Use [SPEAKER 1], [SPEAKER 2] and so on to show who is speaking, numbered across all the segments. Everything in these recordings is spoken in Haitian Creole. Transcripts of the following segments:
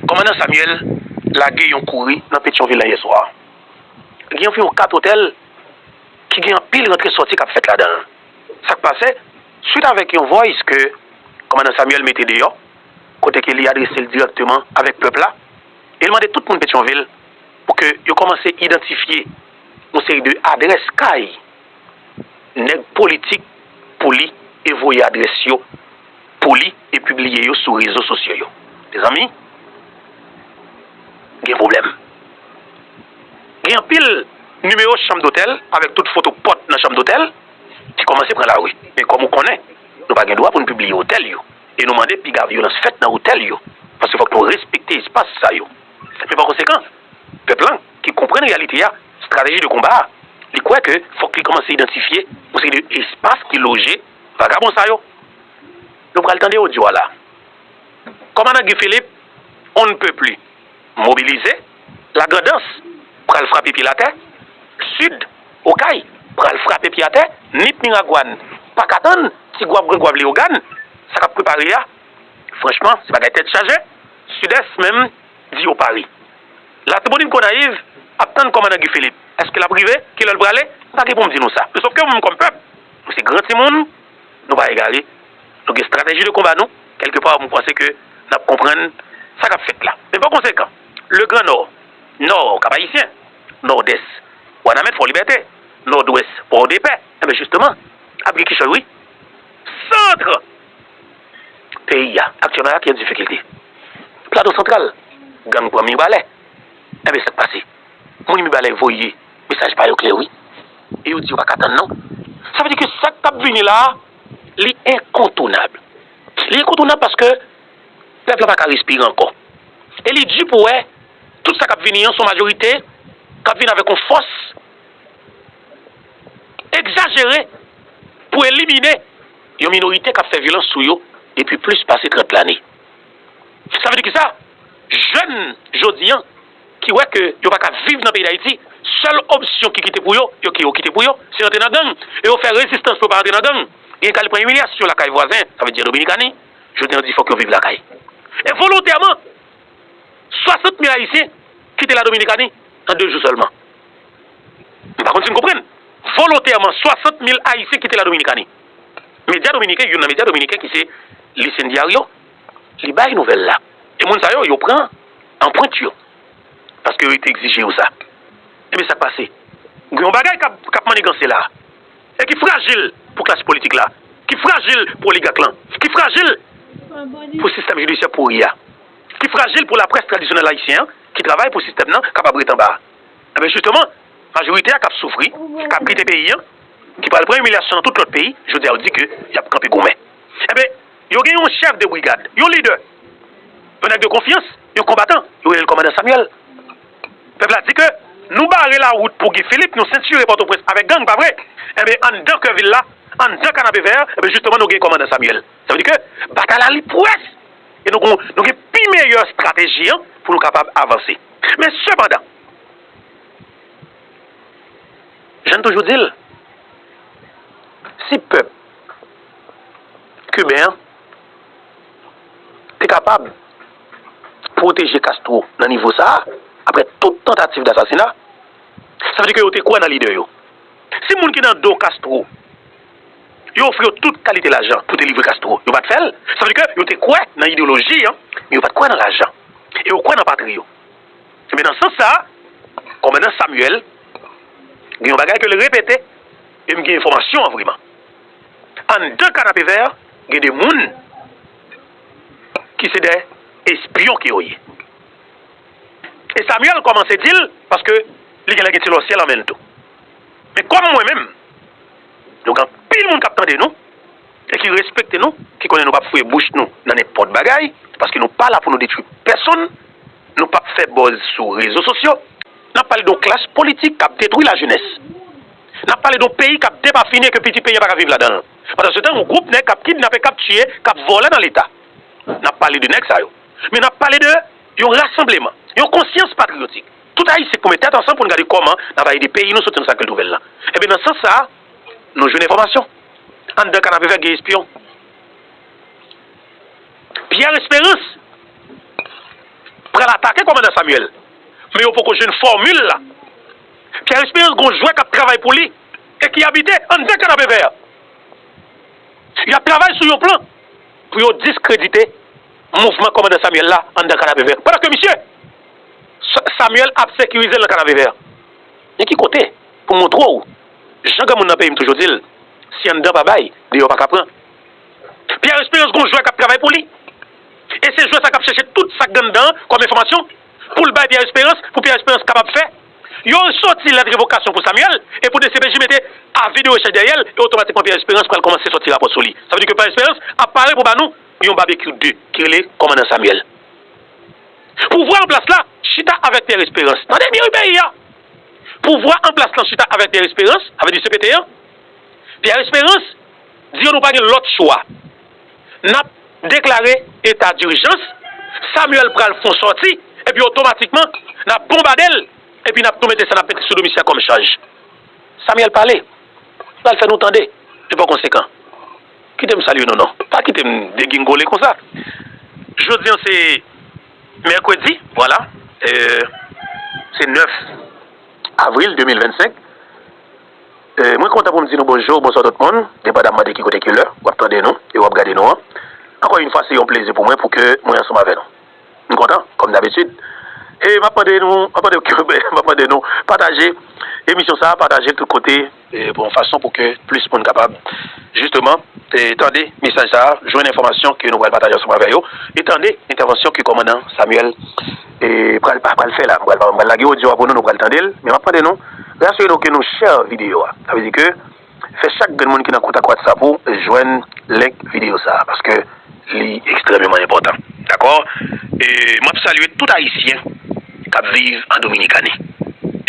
[SPEAKER 1] Kòmandan Samuel lage yon kouri nan Petyonvil la yèswa. Gen anviwon 4 otèl ki gen anpil rantre sòti k ap fèt ladan l. Sa k pase? Swit avèk yon voice ke Kòmandan Samuel mete deyò, kote ke li adrese l dirèkteman avèk pèp la e l mande tout moun Petyonvil pou ke yo kòmanse idantifye yon seri de adrès kay, nèg politik pou li e voye adrès yo pou li e pibliye yo sou rezo sosyo yo. Mezanmi, gen pwoblèm. Gen anpil nimewo chanm dotèl avèk tout foto pòt nan chanm dotèl ki kòmanse pran lari. Men kòm ou konnen, nou pa gen dwa pou nou pibliye otèl yo e nou mande piga vyolans fèt nan otèl yo paske fòk nou respekte espas sa yo. Men pa konsekan, pèp lan. ki konprann reyalite a, strateji de konba a, li kwè ke fòk li kòmanse idantifye yon seri de espas ki loje vagabon sa yo. Nou pral tande odyo a la. Kòmandan Guy Philippe, On ne peut plus, mobilize, La Grand'Anse pral frape pye l atè, Sud, Okay pral frape pye atè, Nip Miragwàn pa ka tann, Ti Gwav, Gran Gwav, Leyogàn, sa k ap prepare a, franchman, se bagay tèt chaje, Sud-Est menm, di yo pare. Latibonit Gonayiv ap tann kòmandan Guy Philippe. Èske l ap rive? Ki lè l prale? M pa gen pou m di nou sa. Men sofke nou kòm pèp, nou se gran timoun, nou pa egare, nou gen estrateji de konba nou, kèlke pa m panse ke n ap konprann sa k ap fèt la. Men pa konsekan, Le Gran Nò, Nò, Kap Ayisyen, Nòdès, Wanament, Fò Libète, Nòdwès, Pòdepè, enben jisteman, ap gen kichòy wi. Centre! Peyi a aktyèlman ak yon difikilte. Plato Santral, gang pran Mibalè. Enben sa k pase? Moun Mibalè voye mesaj pa yo klè wi e yo di yo pa ka tann non. Sa vle di ke sa k ap vini la a, li enkontounab. Li enkontounab paske pèp la pa ka respire ankò. E li di pou wè tout sa k ap vini an se yon majorite k ap vini avèk yon fòs egzajere pou elimine. Yon minorite k ap fè vyolans sou yo depi plis pase 30 lane. Sa vle di kisa? Jèn jodi an ki wè ke yo pa ka viv nan peyi Dayiti, sèl opsyon ki kite pou yo, yo ke yo kite pou yo, se rantre nan gang e yo fè rezistans pou yo pa rantre nan gang. Genyen k al pran imilyasyon lakay vwazen, sa vle di an Dominikani, jodi an yo di fòk yo viv lakay. E volontèman, 60 mil Ayisyen kite la Dominikani an 2 jou sèlman. Nou pa konn si n konprann. Volontèman, 60 mil Ayisyen kite Ladominikani. Medya dominiken, youn nan medya dominiken ki se Listin Diario, li bay nouvèl la. E moun sa yo, yo pran anprent yo. Paske yo te egzije yo sa. Ebyen sa k pase? Gen yon bagay k ap manniganse la a. E ki frajil pou klas politik la. Ki frajil pou oligak lan. Ki frajil pou sistèm jidisyè pouri a. Ki frajil pou laprès tradisyonèl ayisyen an ki travay pou sistèm nan kapab ret anba a. Enben jisteman, majorite a k ap soufri, k ap kite peyi an, ki pral pran imilyasyon nan tout lòt peyi, jodi a yo di ke y ap kanpe goumen. Enben, yo gen yon chèf de brigad, yon lidè, yon nèg de konfyans, yon konbatan, yo rele l kòmandan Samyèl. Pèp la di ke nou bare lawout pou Guy Philippe, nou sentire Pòtoprens avèk gang, pa vre? Enben, anndan kè vil la, anndan Kanapevè, enben jisteman nou gen kòmandan Samyèl. Sa vle di ke batay la li pwès e nou gon, nou gen pi meyè strateji an pou nou kapab avanse. Men sepandan, jan n toujou di l, si pèp kiben an te kapab pwoteje Castro nan nivo sa a, aprè tout tantativ dasasina, sa vle di ke yo te kwè nan lide yo. Si moun ki nan do Castro. Yo ofri yo tout kalite lajan pou delivre Castro. Yo pa t fè l. Sa vle di ke yo te kwè nan ideyoloji an, men yo pa t kwè nan lajan. E yo kwè nan patri yo. Enben, nan sans sa a, Kòmandan Samuel gen yon bagay ke l repete, e m gen enfòmasyon an vreman. Anndan Kanapevè, gen de moun ki se de espyon ke yo ye. E Samuel kòmanse di l, paske li genlè gen ti lòsyè lan men l tou. Men kòm mwen menm, nou gen anpil moun k ap tande nou e ki respekte nou, ki konnen nou p ap fouye bouch nou nan nenpòt bagay, paske nou pa la pou nou detwi pèsonn, nou p ap fè bòz sou rezo sosyo, n ap pale de yon klas politik k ap detwi lajenès, n ap pale de yon peyi k ap depafini e ke piti peyi a pa ka viv ladan l. Pandansetan, yon gwoup nèg k ap kidnape, k ap tiye, k ap vòlè nan Leta. N ap pale de nèg sa yo. Men n ap pale de yon rasanbleman, yon konsyans patriyotik. Tout Ayisyen pou met tèt ansanm pou n gade kòman n a va ede peyi nou soti nan sakil twouve l lan. Enben nan sans sa a, nou jwenn enfòmasyon. Anndan Kanapevè gen espyon. Pierre Espérance pral atake kòmandan Samuel. Men yo poko jwenn fòmil la. Pierre Espérance gen yon jwè k ap travay pou li e ki abite anndan Kanapevè. Y ap travay sou yon plan pou yo diskredite mouvman kòmandan Samuel la anndan Kanapevè. Pandan ke misye. Samuel ap sekirize l nan Kanavevè. Men ki kote pou m montre w, jan granmoun nan peyi m toujou di l, si anndan pa bay, deyò pa ka pran. Pierre Espérance gen yon jwè k ap travay pou li, e se jwè sa k ap chèche tout sa k gen anndan an kòm enfòmasyon pou l bay Pierre Espérance, pou Pierre Espérance kapab fè yon soti lèt revokasyon pou Samuel e pou dcpj mete avi de rechèch dèyè l e otomatikman Pierre Espérance pral kòmanse soti rapò sou li. Sa vle di ke Pierre Espérance ap pare pou ba nou yon Babekyou 2 ki rele Kòmandan Samuel. Pouvwa anplas la chita avèk Pierre Esperance. Tande byen wi peyi a! Pouvwa anplas lan chita avèk Pierre Esperance, sa vle di cpt an. Pierre Esperance di yo nou pa gen lòt chwa. N ap deklare eta dirjans, Samuel pral fon sòti epi otomatikman n ap bonbade l epi n ap tou mete sa n ap mete sou do misye a kòm chaj. Samuel pale, l al fè nou tande li pa konsekan. Kite m salye nou non. Pa kite m degingole konsa. Jodi an se mèkredi, vwala, se 9 avril 2025. Mwen kontan pou m di nou bonjou, bonswa tout moun, depadamman de ki kote, ki lè w ap tande nou e w ap gade nou an. Ankò yon fwa se yon plezi pou mwen pou ke mwen ansanm avè nou. M kontan kòm dabitid e map mande nou map mande nou kenbe map mande nou pataje emisyon sa pataje tout kote, yon fason pou ke plis moun kapab jisteman tande mesaj sa jwenn enfòmasyon ke nou pral pataje ansanm avè yo e tande entèvansyon ke kòmandan Samuel pral pral fè la m pral m pral lage odyo a pou nou nou pral tande l men map mande nou e asire nou ke nou share videyo a sa vle di ke Fè chak grenn moun ki nan kontak whatsapp ou jwenn link video sa paske li ekstrèmeman enpòtan dakò e map salye tout ayisyen kap viv an dominikani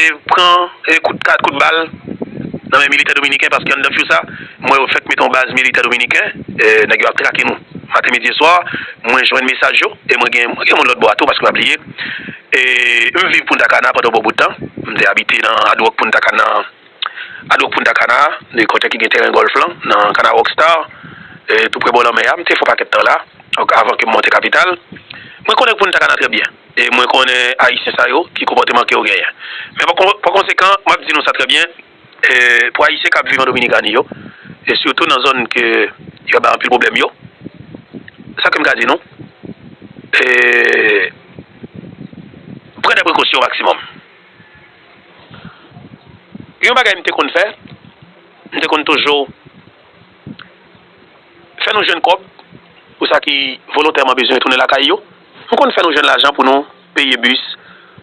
[SPEAKER 1] e pran kout kad kout bal nan men militè dominiken paske anndan few sa m wè yo fèk mete yon baz militè dominiken nèg yo ap trake nou maten midi e swa mwen jwenn mesaj yo e mwen gen gen moun lòt bò a tou paske pa bliye e m viv punta cana pandan yon bon bout tan m te abite nan hard rock punta cana. A do Punta Cana, de kotè ki gen teren gòlf lan, nan Cana Rockstar, toupre bò lanmè a. M te fè yon pakèt tan la, avan ke m monte kapital. Mwen konnen Punta Cana trè byen, e mwen konnen Ayisyen sa yo, ki konpòteman ke yo genyen. Men, pa konsekan, m ap di nou sa trè byen, pou Ayisyen k ap viv an Dominikani yo, e sitou nan zòn ke yo ap bay anpil pwoblèm yo, sa ke m ka di nou, pran dè prekosyon o maksimòm. Yon bagay m te konn fè, m te konn toujou fè nou jwenn kòb pou sa ki volontèman bezwen retounen lakay yo. M konn fè nou jwenn lajan pou nou peye bis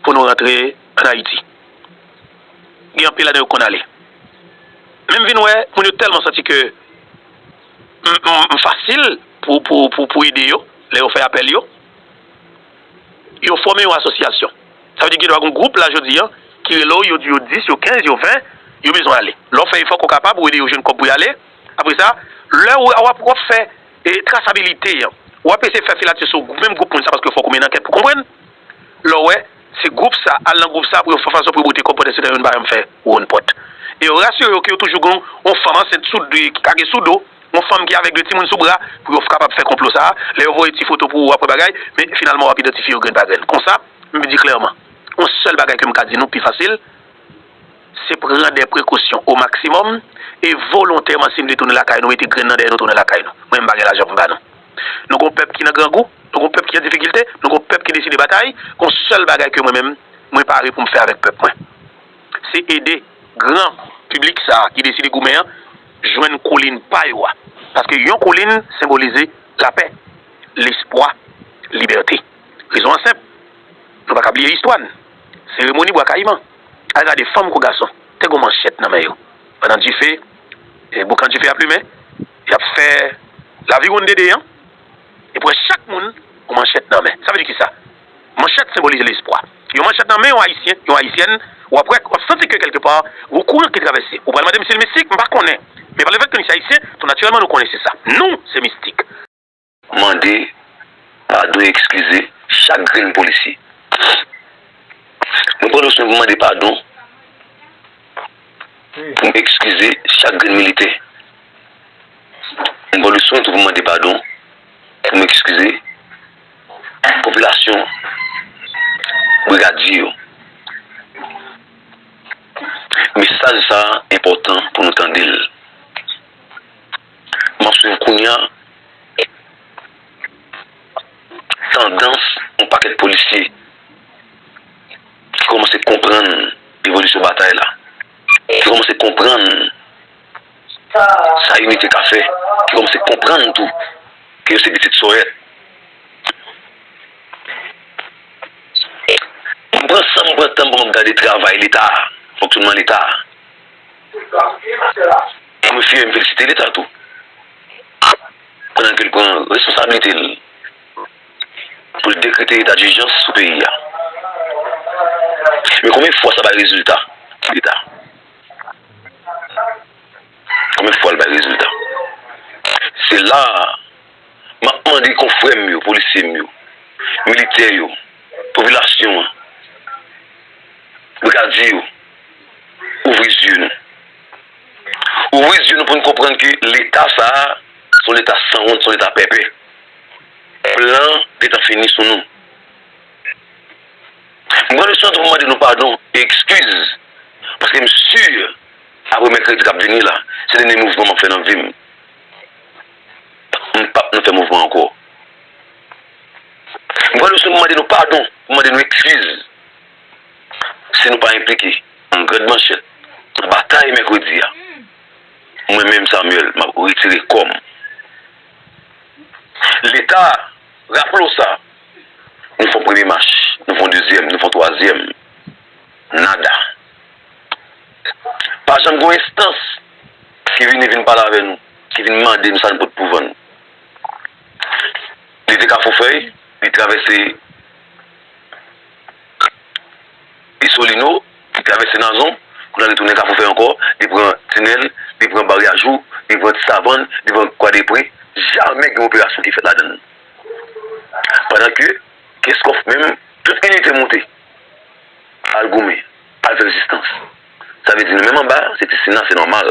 [SPEAKER 1] pou nou rantre ann Ayiti. Gen anpil ladan yo ki konn ale. Men m vin wè moun yo tèlman santi ke m fasil pou ede yo lè yo fè apèl yo. Yo fòme yon asosyasyon. Sa vle di gen dwa gen yon gwoup la jodi an ki rele w, yo di yo 10, yo 15, yo 20, yo bezwen ale. Lè w fè efò ke w kapab, ou ede yo jwenn kòb pou y ale. Apre sa, lè ou a, w ap fè trasabilite an. W ap eseye fè filatè sou menm gwoup moun sa a paske fòk ou mennen ankèt pou konprann. Lè w wè se gwoup sa a, al nan gwoup sa a pou yo fè fason pou yo bote kòb pandan se tan yo nan baryèm fè wonn pòt. E yo rasire yo ke yo toujou gen yon fanm ansent sou, ki ka gen sou do. Yon fanm ki avèg 2 timoun sou bra pou yo kapab fè konplo sa a, lè yo voye ti foto pou ou apre bagay, men finalman wap idantifye yo grenn pa grenn. Konsa, m di klèman, yon sèl bagay ke m ka di nou pi fasil, se pran dè prekosyon o maksimòm e volontèman si n vle tounen lakay nou mete grenn nan dèyè nou tounen lakay nou. Mwen m pa gen lajan pou m ba nou. Nou gen yon pèp ki nan grangou, nou gen yon pèp ki an difikilte, nou gen yon pèp ki deside batay, gen yon sèl bagay ke mwen menm, mwen pare pou m fè avèk pèp mwen. Se ede gran piblik sa a ki deside goumen an jwenn kolin pa yo a. Paske yon kolin senbolize lapè, lespwa, libète. Rezon an senp, nou pa ka bliye istwa n. Seremoni Bwa Kayiman. Al gade fanm kou gason, te gen yon manchèt nan men yo. Pandan dife, boukan dife ap limen, y ap fè laviwonn dede an, e pwen chak moun yon manchèt nan men. Sa vle di kisa? Manchèt senbolize lespwa. Yon manchèt nan men yon Ayisyen, yon Ayisyèn, w ap wè, w ap santi ke kelke pa, gwo kouran ki travèse. Ou pral mande m si l mistik, m pa konnen. Men palefèt ke nou se Ayisyen, tou natirèlman nou konnen se sa. Nou se mistik. Mande
[SPEAKER 2] padon e ekskize chak grenn polisye. Mwen pran swen pou m mande padon, pou m ekskize chak grenn militè. Mwen pran swen tou pou m mande padon, pou m ekskize popilasyon Brigadier yo. Mesaj sa a enpòtan pou nou tande l. M ap swiv kounya tandans yon pakèt polisye ki kòmanse konprann evolisyon batay la, ki kòmanse konprann. Sa Inite ka fè ki kòmanse konprann tou ke yo se pitit Sorèt. M pran san m pran tan m pou m ap gade travay Leta a, fonksyonnman Leta a. M refye m felisite Leta tou pandan ke l pran responsablite l pou l dekrete eta dijans sou peyi a. Men konbyen fwa sa bay rezilta? Konbyen fwa l bay rezilta? Se la a m ap mande konfrè m yo, polisye m yo, militè yo, popilasyon an, brigadye yo, ouvri zye nou. Ouvri zye nou pou n konprann ke Leta sa a se yon Leta sanwont, se yon Leta pèpè. Plan P tan fini sou nou. M pran misyon tou pou mande nou padon e ekskiz paske m si apre mèkredi k ap vini la se dènye mouvman m ap fè nan vi m. M pap nan fè mouvman ankò. M pran misyon pou mande nou padon, pou mande nou ekskiz si nou pa enplike an grande manchèt nan batay mèkredi a. Mwen menm Samuel m ap retire kò m. Leta raple w sa. Nou fon premye mach, nou fon dezyèm, nou fon twazyèm. Nada. Pa janm gen yon enstans ki vini vin pale avè nou, ki vin mande nou sa nou pot pou vann. Li te Kafoufèy, li travèse Isolino, li travèse Nazon, kounye a li tounen Kafoufèy ankò, li pran Tinèl, li pran Baryajou, li pran Tisavann, li pran Kwadepre. Jamè gen operasyon ki fèt ladann. Pandan ke Keskòf menm, tout inite moute al goumen, al fè rezistans. Sa vle di nou menm anba se ti Sina, se nòmal.